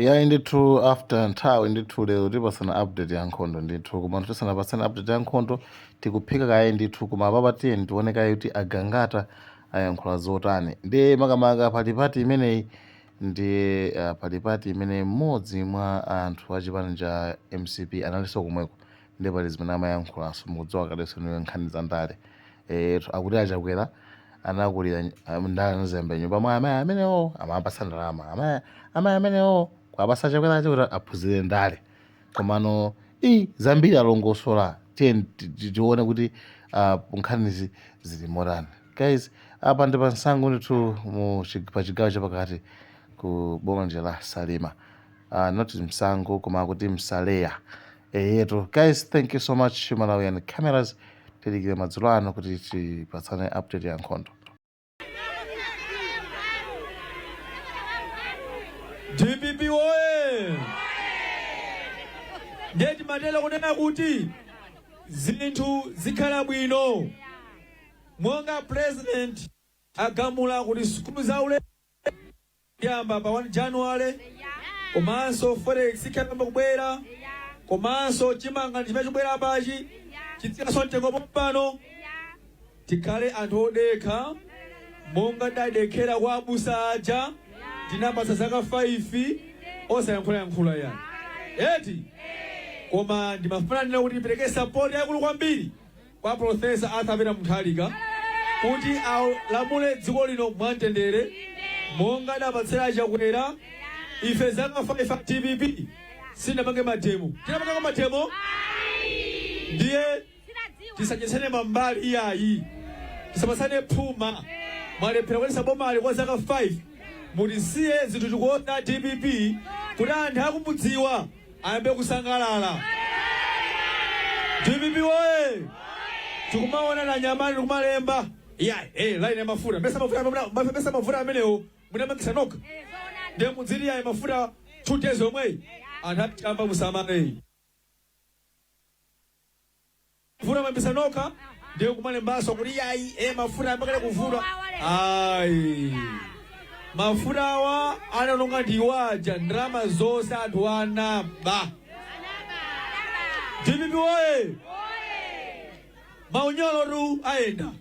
Iyayi ndithu after nthawi ndithu lero tipatsana update ya nkhondo ndithu koma tisanapatsana update ya nkhondo tikuphika kaye ndithu koma apapa tiyeni tione kaye kuti a Gangata ayankhula zotani ndiye makamaka pali party imeneyi ndiye uh, pali party imene mmodzi mwa anthu achipani cha mcp analinso komweko Ndiye pali zimene amayankhulanso mukudziwa kadenso niwe nkhani za ndale eetu akuti a Chakwera anakulira um, ndale anazembe nyumba mwa amayi amenewo amapatsa ndalama amayi amayi amenewo kuwapatsa a Chakwera ache kuti aphunzire ndale komano i zambiri alongosola tiyeni ti- ti- tione kuti ah, nkhanizi zili motani guys apa ndi pa Msangu ndithu mu chi- pa chigawo chapakati ku boma la salima uh, not Msangu koma akuti msaleya eyetu guys thank you so much malawian cameras tidikire madzulo ano kuti tipatsane update ya nkhondo dpp oye ndiye timatera kunena kuti zinthu zikhala bwino monga president agamula kuti sukulu zaulere Kuyamba pa 1 January komanso forex ikayamba kubwera komanso chimanga ndi chimene chikubwera apachi chitsikanso mtengo pompano tikhale anthu odekha monga tidadekhera kwa abusa aja tinapatsa zaka 5 osayankhulayankhula ya eti koma ndimafuna ndinene kuti tipereke sapoti yakulu kwambiri kwa Professor Arthur Peter Mutharika kuti alamule dziko lino mwa mtendere monga adapatsira a Chakwera ife zaka 5 a dpp sitinapange mademo tinapangako mademo ndiye tisachedwetsane mambala iyayi tisapatsane phuma mwalephera kuyendetsa bomali kwa zaka 5 mutisiye zinthu tikonze dpp kuti anthu akumudziwa ayambe kusangalala. Dpp woye! Tikumaona anyamata tikumalemba. Yeah, eh, line ya mafuta. Mesa mafuta mna mesa- mesa mavuto amenewo munayambitsa nokha. Ndiye mudzili ya mafuta 2 days omwe. Anthu achamba musamale. Vuto mwayambitsa nokha ndiye kumalembanso kuti yayi e mafuta ayambakale kuvuta ayi mafutawa anaononga ndiwaja ndalama zonse anthu anaba dpp oye maunyolotu ayenda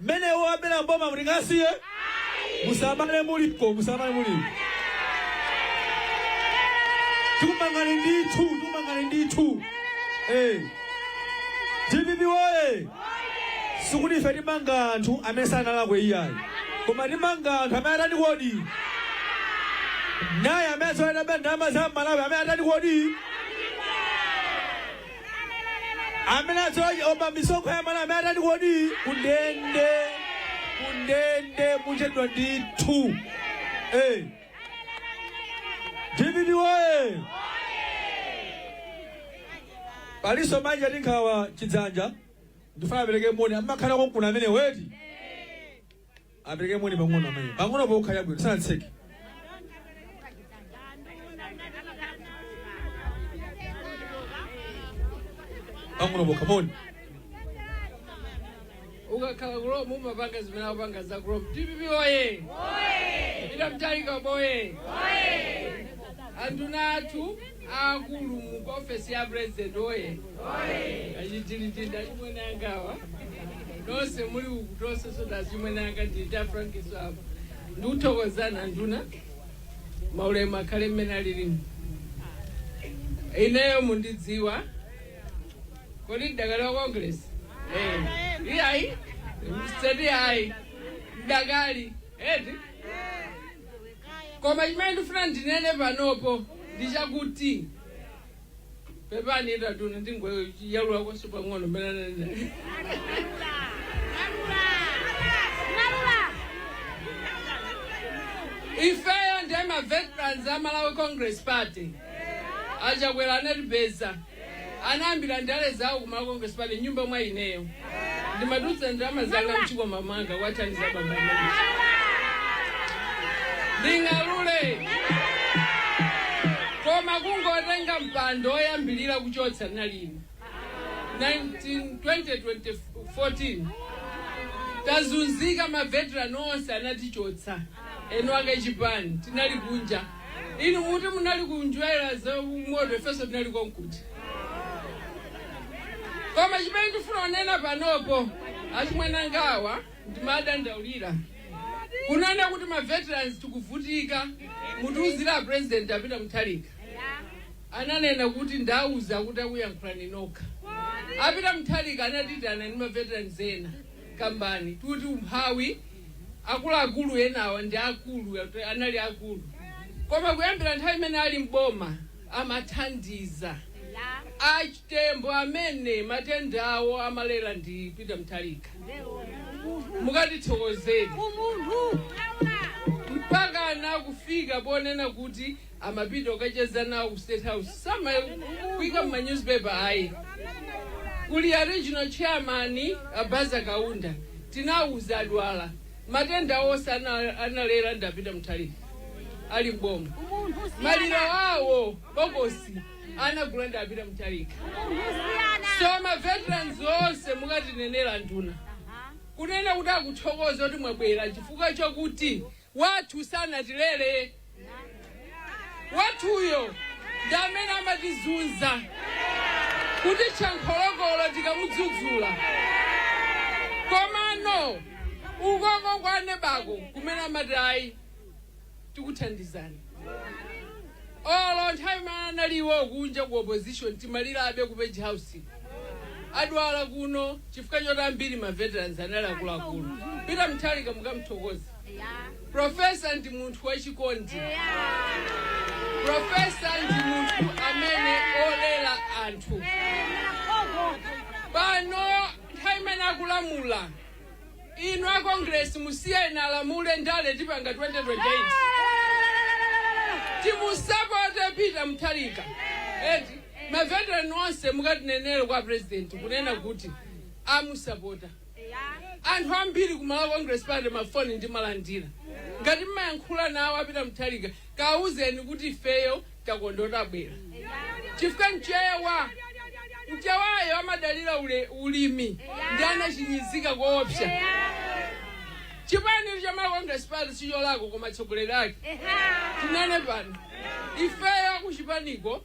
Mmene iwo abela m'boma muti tingasiye? Musamale muliko, musamale muliko. Tikumangani ndithu, tikumangani ndithu. Eh. DPP woye. Sikuti ife timanga anthu amene sanalakwe iyayi. Koma timanga anthu amene atani kodi? Naye amene aba ndalama za Amalawi amene atani kodi? amene akuba misonkho ya Amalawi amene atati kodi kundende kundende muchedwa ndithu Eh. DPP woye palinso manja ati nkhawa chidzanja ndikufuna apereke moni amakhala konkuno amene eti Apereke moni pang'ono amayi. Pang'ono pokha yabwino sanatseke. Pang'ono pokha moni. ukakhala ku Roma umapanga zimene akupanga za ku Roma DPP oye Peter Mutharika boye anduna athu aakulu mu ku ofesi ya president oye achitiliti ndi achimwene anga awa nonse muli uku konse so ndi achimwene anga ndita frankiso apo ndikuthokozana nduna maulemu akhale mmene alilimu ineyo mundidziwa kodi ndidakali wa Congress Eh, iyayi si ayi ndidakali eti Koma chimene ndifuna ndinene panopo ndi chakuti. Pepani inu adona nding'alula nkonse pang'ono mmene ananena. Ifeyo ndife ma veterans a Malawi Congress Party. A Chakwera anatipeza. anayambira ndale zawo ku Malawi Congress Party m'nyumba mwa ineyo. Ndimatulutsa ndalama zanga m'chikwama mwanga kuwathandiza abambo amenewa. Nding'alule. Koma kungotenga mpando woyambirira kuchotsa ndinali ine. 19 2014 tazunzika maveterani onse anatichotsa eni ake chipani tinali kunja inu muti munali kum'gwera zamoto ifenso tinali konko koma chimene ndifuna kunena panopo achimwene angawa ndimawadandaulira kunena kuti ma veterans tikuvutika mutiuzire a president a Peter Mutharika ananena kuti ndawauza kuti akayankhule okha a Peter Mutharika anatiitana ndi ma veterans ena nkukamba kuti umphawi akuluakulu enawa ndi akulu anali akulu koma kuyambira nthawi imene ali m'boma amathandiza achitembo amene matenda awo amalera ndi peter mutharika mukatithokozere mpaka anakufika ponena kuti amapita kukacheza nawo ku state house samakuika mma newspaper ayi kuli a regional chairman abaza kaunda tinawuza adwala matenda onse ana- analera ndi a Peter Mutharika ali mboma maliro awo bokosi anagula ndi a Peter Mutharika so ma veterans onse mukatinenere nduna kunena kuti akuthokoza kuti mwabwera chifukwa chokuti wathu sanatilele wathuyo ndi amene amatizunza kuti chankholokolo tikamudzudzula komano ukoko kwa aneba ko kumene amati ayi tikuthandizani olo nthawi imene analiwo kunja ku opposition timalirabe ku page house adwala kuno chifukwa choti ambiri ma veterans anali akuluakulu Peter Mutharika mukamthokoze profesa ndi munthu wachikondi profesa ndi munthu amene olera anthu pano nthawi imene akulamula inu a congress musiyeni alamule ndale tipanga 2030 timusapote peter mutharika eti maveterani onse mukatinenere kwa president kunena kuti amusapota Anthu ambiri ku Malawi Congress Party ma phone ndimalandira. Ngati mmayankhula nawo a Peter Mutharika, kaawuzeni kuti ifeyo takondwa kuti abwera. Chifukwa mchewa mchewayo amadalira ulimi ndi anafinyika koopsa. Chipani cha Malawi Congress Party sicholakwa koma atsogoleri ake. Tinene pano. Ifeyo kuchipaniko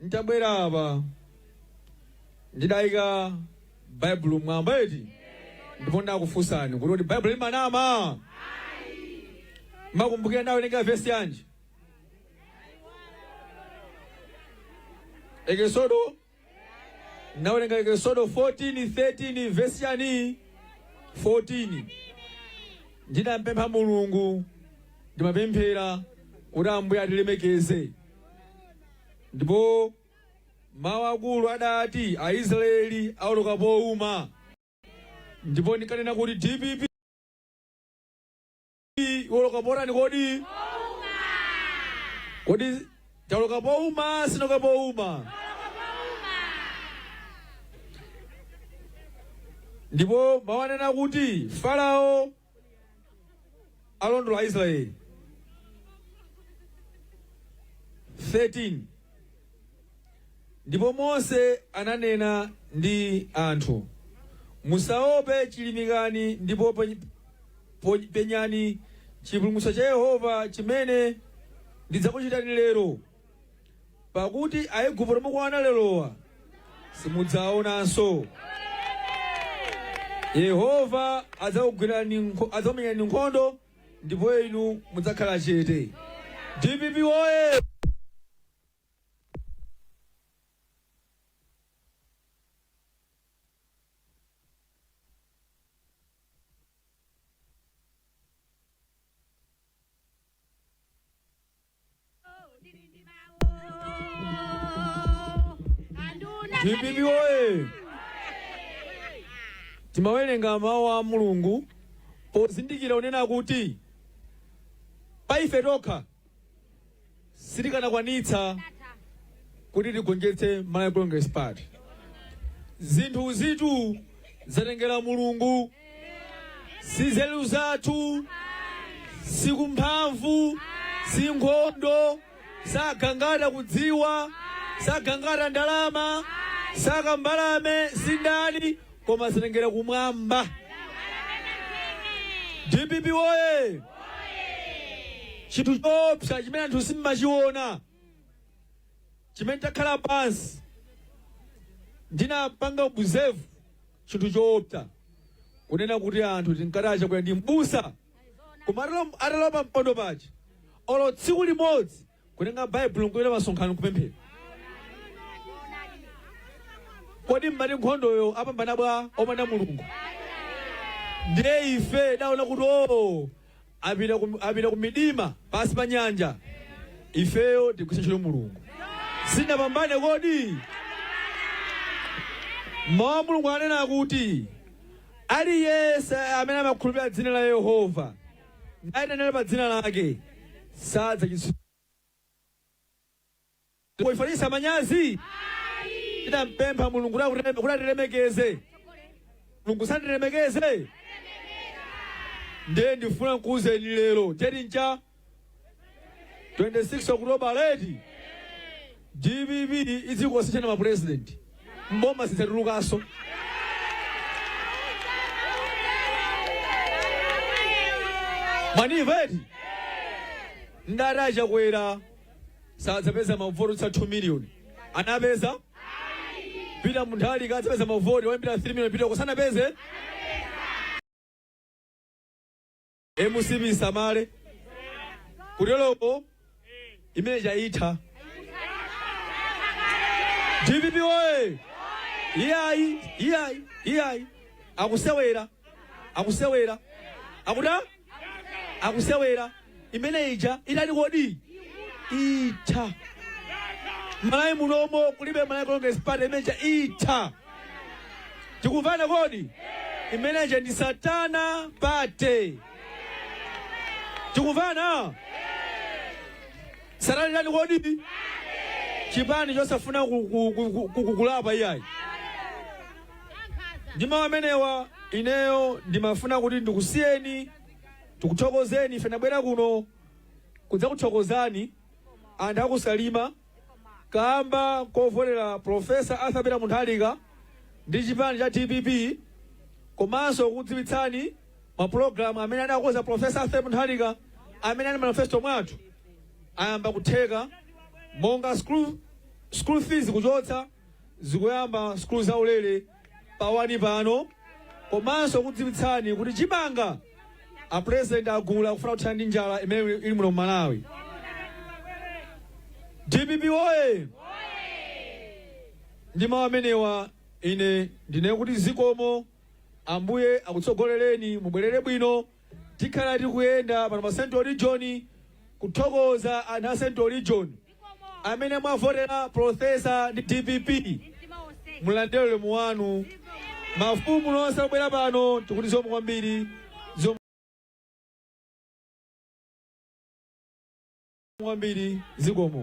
N'tabwera apa ndidaika Baibulo m'mwamba eti ndipo ndakufunsani kuti kuti Baibulo limanama? Mukukumbukira ndinawerenga vesi yanji? Eksodo Ndinawerenga Eksodo 14:13 vesi yanji 14 ndidampempha mulungu ndimapemphera kuti ambuye atilemekeze ndipo mawu akulu adati aisraeli aoloka pouma ndipo ndikanena kuti dpp kodi woloka potani kodi kodi tawoloka pouma sitinawoloke pouma ndipo mawu anena kuti farao alondola aisraeli 13 Ndipo Mose ananena ndi anthu, Musaope, chilimikani, ndipo penyani chipulumutso cha Yehova, chimene ndidzakuchitani lero, pakuti Aigupto mukuwaona lerowa simudzawaonanso. Yehova adzakumenyerani nkhondo ndipo inu mudzakhala chete. DPP woye! DPP woye! Timawerenga mawu a Mulungu pozindikira kunena kuti pa ife tokha sitikanakwanitsa kuti tigonjetse Malawi Congress Party. Zinthu izitu zatengera Mulungu, si nzeru zathu, si kumphamvu, si nkhondo, si a Gangata kudziwa, si a Gangata ndalama, si a Kambalame, si ndani koma zatengera kumwamba dpp woye chinthu choopsa chimene anthu simmachiona chimene takhala pansi ndinapanga observe chinthu choopsa kunena kuti anthu tinkati a chakwera ndi mbusa koma atalo- atalowa pampando paja olo tsiku limodzi kutenga baibulo nkupita pamsonkhano nkupemphera kodi mmati nkhondoyo apambana bwa opanda mulungu ndiye ife tidaona kuti o apita ku- apita ku midima pansi pa nyanja ifeyo tigwiritsa ntchito mulungu sitinapambane kodi mawu a mulungu anena kuti aliyense amene amakhulupirira dzina la yehova nayitanira pa dzina lake sadzachititsidwa kuchititsa manyazi tinampempha mulungu kuti akutireme- kuti atilemekeze mulungu sanatilemekeze ndiye ndifuna nkuuzeni lero cheti ncha 26 okutoba dpp izikasinthana mapurezidenti mboma zidzatulukanso mwaniva eti ndati achakwera sadzapeza mavoti otsa 2 miliyoni anapeza pita munthalika adzapeza mavoti oyambira 3 miliyoni pita asanapeze mcp isamale kuteloko imene ija itha dpp oye iyayi iyayi iyayi akusewera akusewera akuta akusewera imene ija itani kodi itha malawi munomo kulibe malawi kongelesi pati imene ija itha tikumvana kodi imene ija ndi satana pati tikumvana satana ndani kodi chipani chosafuna ku- ku- ku- ku- ku- kukulapa iyayi ndi mawu amenewa ineyo ndimafuna kuti ndikusiyeni ndikuthokozeni ife tabwera kuno kudzakuthokozani anthu akusalima kamba kovotera Professor Arthur Peter Munthalika ndi chipani cha dpp komanso kukudziwitsani mapulogalamu amene adakonza Professor Arthur Munthalika amene ali mu manifesto mwathu ayamba kutheka monga school fees kuchotsa zikuyamba school zaulere pa wani pano komanso kudziwitsani kuti chimanga a president agula kufuna kuthana ndi njala imene ili muno mu malawi dpp oye ndi mawu amenewa ine ndinene kuti zikomo ambuye akutsogolereni mubwerere bwino tikhala tikuyenda pano pa central region kuthokoza anthu a central region amene mwavotera Professor ndi dpp mulandire ulemu wanu. Mafumu nonse obwera pano tikuti zikomo kwambiri. Zikomo kwambiri zikomo.